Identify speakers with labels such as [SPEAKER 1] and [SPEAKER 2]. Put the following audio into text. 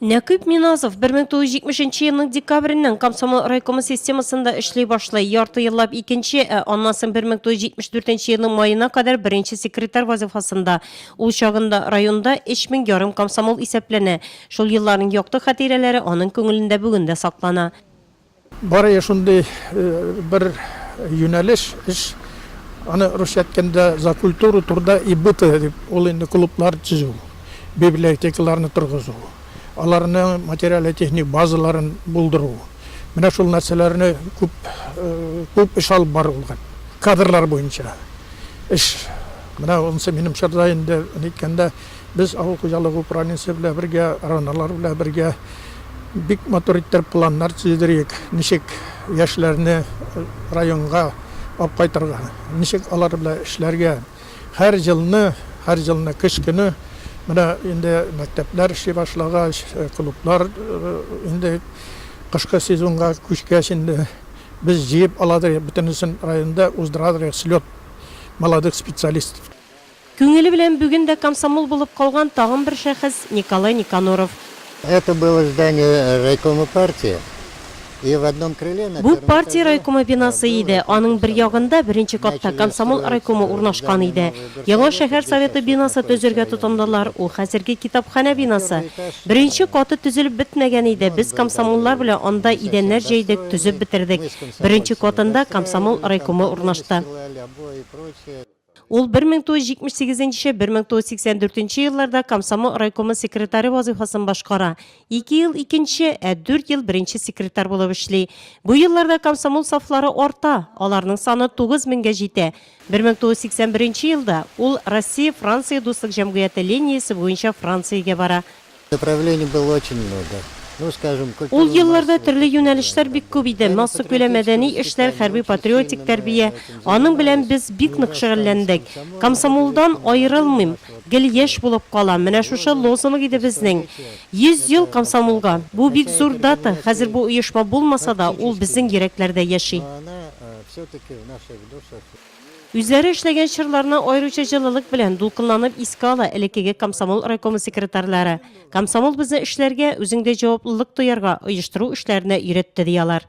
[SPEAKER 1] Нәкыйп Миназов 1970 нче елның декабреннән комсомол райкомы системасында эшли башлый. Ярты еллап икенче, ә аннан соң 1974 елның маена кадәр беренче секретарь вазифасында. Ул чагында районда 3000 ярым комсомол исәпләнә. Шул елларның якты хатирәләре аның күңелендә бүген дә саклана. Барые
[SPEAKER 2] шундый бер юнәлеш, эш. Аны русча әйткәндә за культуру труда и быта дип, ул инде клублар төзү, библиотекаларны торгызу, аларның материале-техник базаларын булдыру. Менә шул нәрсәләрне күп, күп эш алып барылган. Кадрлар буенча эш. Менә анысы минем чорда инде, әйткәндә. Без авыл хуҗалыгы управлениясе белән бергә, РОНОлар белән бергә бик матур иттереп планнар төзедерик, ничек яшьләрне районга алып кайтырга, ничек алар белән эшләргә. Һәр елны, һәр елны көз көне менә инде мәктәпләр эшли башлагач, клублар инде кышкы сезонга күчкәч инде, без җыеп аладыр, бөтенесен районда уздырадыр слет молодых специалистов. Күңеле
[SPEAKER 1] белән бүген дә комсомол булып калган тагын бер шәхес, Николай Никоноров. Это было
[SPEAKER 3] здание райкома партии, и в одном крыле, на Бу, партия райкомы
[SPEAKER 1] бинасы иде, аның бер ягында, беренче катта, комсомол райкомы урнашкан иде. Яңа шәһәр Советы бинасы төзергә тотындылар, ул хәзерге китапханә бинасы. Беренче каты төзелеп бетмәгән иде, без комсомоллар белән анда идәннәр җәйдек, төзеп бетердек. Беренче катында комсомол райкомы урнашты. Ул 1978-1984 елларда комсомол райкомы секретаре вазыйфасын башкара. Ике ел икенче, ә дүрт ел беренче секретарь булып эшли. Бу елларда комсомол сафлары арта, аларның саны 9 меңгә җитә. 1981 елда ул Россия-Франция дуслык җәмгыяте линиясе буенча Франциягә бара.
[SPEAKER 3] Ул елларда төрле
[SPEAKER 1] юнәлешләр бик күп иде, массакүләм мәдәни эшләр, хәрби-патриотик тәрбия. Аның белән без бик нык шөгыльләндек. Комсомолдан аерылмыйм, гел яшь булып калам, менә шушы лозунг иде безнең. Йөз ел комсомолга! Бу бик зур дата, хәзер бу оешма булмаса да, ул безнең йөрәкләрдә яши. Үзләре эшләгән чорларны аеруча җылылык белән, дулкынланып искә ала элеккеге комсомол райкомы секретарьлары. Комсомол безне эшләргә, үзеңдә җаваплылык тоярга, оештыру эшләренә өйрәтте, ди алар.